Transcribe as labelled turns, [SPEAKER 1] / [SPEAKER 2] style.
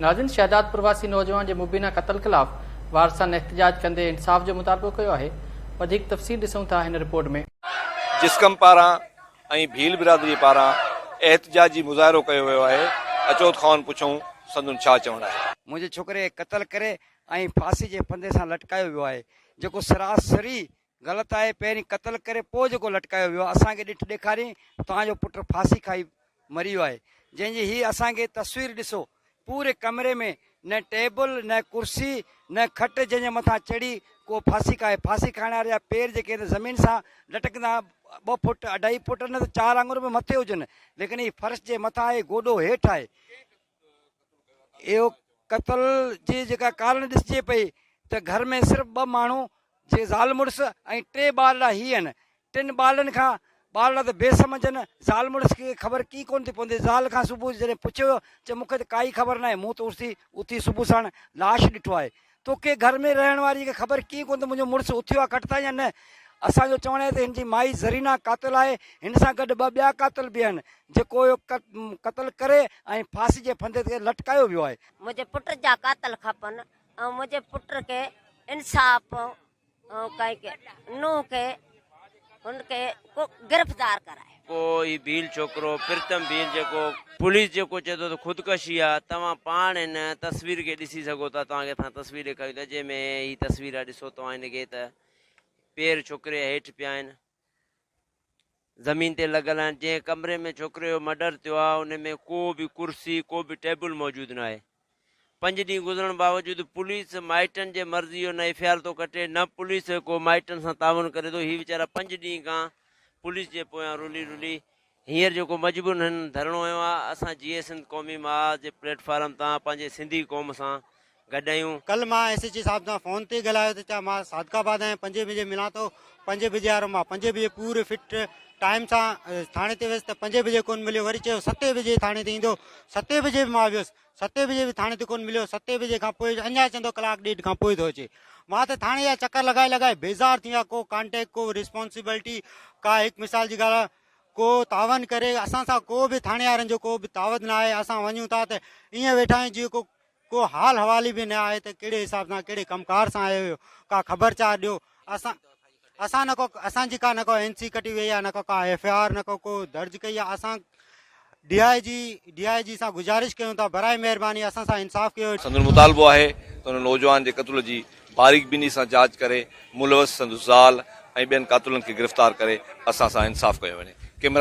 [SPEAKER 1] ناظرين شهدادپور واسي نوجوان جي مبينا قتل خلاف وارثن احتجاج ڪندي انصاف جو مطالبو ڪيو آهي وڌيڪ تفصيل ڏسون ٿا هن رپورٽ ۾. جسقم
[SPEAKER 2] پاران ۽ ڀيل برادري پاران احتجاجي مظاهرو ڪيو ويو آهي اچو کانئن پڇون سندن ڇا چوڻ آهي. منهنجي ڇوڪري کي قتل
[SPEAKER 3] ڪري ۽ ڦاسي جي ڦندي سان لٽڪايو ويو آهي جيڪو سراسري غلط آهي پهرين قتل ڪري پوء جيڪو لٽڪايو ويو اسان کي ڏٺ ڏيکارين ته توهان جو پٽ ڦاسي کائي مري ويو آهي جنهن جي هي اسان کي تصوير ڏسو پوري ڪمري ۾ نه ٽيبل نه ڪرسي نه کٽ جنهن جي مٿان چڙهي ڪو ڦاسي کائي ڦاسي کائڻ واري جا پير جيڪي هن زمين سان لٽڪندا ٻه فٽ اڍائي فٽ نه ته چار آڱرون به مٿي هجن ليڪن هي فرش جي مٿان آهي گوڏو هيٺ آهي اهو قتل جي جيڪا ڪارڻ ڏسجي پئي ته گهر ۾ صرف ٻه ماڻهو جي زال مڙس ۽ ٽي ٻارڙا هي آهن ٽن ٻارڙن کان ٻارڙا ته بي سمجهن زال مڙس کي خبر ڪي ڪونه ٿي پوندي زال کان صبح جڏهن پڇيو چي مون کي ته ڪائي خبر ناهي مون ته اٿي اٿي صبح ساڻ لاش ڏٺو آهي توکي گهر ۾ رهڻ واري کي خبر ڪيئن ڪون ته منهنجو مڙس اٿيو آهي ڪٽ تان يا نه. اسان جو چوڻ آهي ته هن جي مائي زرينا قاتل آهي، هن سان گڏ ٻه ٻيا قاتل به آهن، جيڪو اهو قتل ڪري ۽ ڦاسي جي ڦندي تي لٽڪايو ويو آهي. منهنجي پٽ جا
[SPEAKER 4] قاتل کپن ۽ منهنجي پٽ کي انصاف. نوح کي هن کي گرفتار ڪرائي. ڪو هي ڀيل
[SPEAKER 5] ڇوڪرو پرتم ڀيل جيڪو پوليس جيڪو چئي ٿو ته خودڪشي آ توهان پاڻ هن تصوير کي ڏسي سگهو ٿا توهان کي اسان تصوير ڏيکاريون ٿا جنهن ۾ هي تصوير آ ڏسو توهان هن کي ته پير ڇڪري هيٺ پيا آهن. زمين تي لڳل آهن جنهن ڪمري ۾ ڇوڪري جو مڊر ٿيو آهي ان ۾ ڪو به ڪرسي ڪو به ٽيبل موجود ناهي پنج ڏينهن گذرڻ باوجود پوليس مائٽن جي مرضي جو نه ايف آر ٿو ڪٽي نه پوليس ڪو مائٽن سان تعاون ڪري ٿو هي ويچارا پنج ڏينهن کان پوليس جي پويان رلي رلي هينئر جيڪو مجبورن هن ڌرڻو هنيو آهي، اسان جيئي سنڌ قومي محاذ جي پليٽ فارم تان پنهنجي سنڌي قوم سان گڏ آهيون. ڪلهه مان ايس ايڇ او صاحب
[SPEAKER 6] سان فون تي ڳالهايو ته چا مان صادق آباد آهيان پنجين بجي ملان ٿو پنجين بجي وارو مان پنجين بجي پوري فٽ ٽائيم سان ٿاڻي تي ويس ته پنجين بجي ڪون مليو وري چيو ستين بجي ٿاڻي تي ايندو ستين بجي به مان ويس ستين بجي به ٿاڻي تي ڪون مليو ستين بجي کان پوء اڃا چون ٿو ڪلاڪ ڏيڍ کان پوء ٿو اچي مان ته ٿاڻي جا چڪر لڳائي لڳائي بيزار ٿي ويا ڪو ڪانٽيڪٽ ڪو رسپانسبلٽي ڪا هڪ مثال جي ڳالهه ڪو تعاون ڪري اسان سان ڪو به ٿاڻيارن جو ڪو به تعاون نه آهي اسان وڃون ٿا ته ائين ويٺا آهيون جيئن ڪو ڪو حال حوالي به نه آهي ته ڪهڙي حساب سان ڪهڙي ڪم ڪار سان آيو هيو ڪا خبر چار ڏيو اسان اسان نه ڪو اسان جي ڪا نه ڪو اين سي ڪٽي وئي آهي نه ڪو ڪا ايف آر نه ڪو ڪو درج ڪئي آهي اسان D I G D I G سان گذارش ڪيون ٿا براء مهرباني اسان سان انصاف ڪيو. سندن مطالبو آهي
[SPEAKER 2] ته هن نوجوان جي قتل جي باريڪ بيني سان جاچ ڪري ملوث سندس زال ۽ ٻين قاتلن کي گرفتار ڪري اسان سان انصاف ڪيو وڃي. ڪيمرا.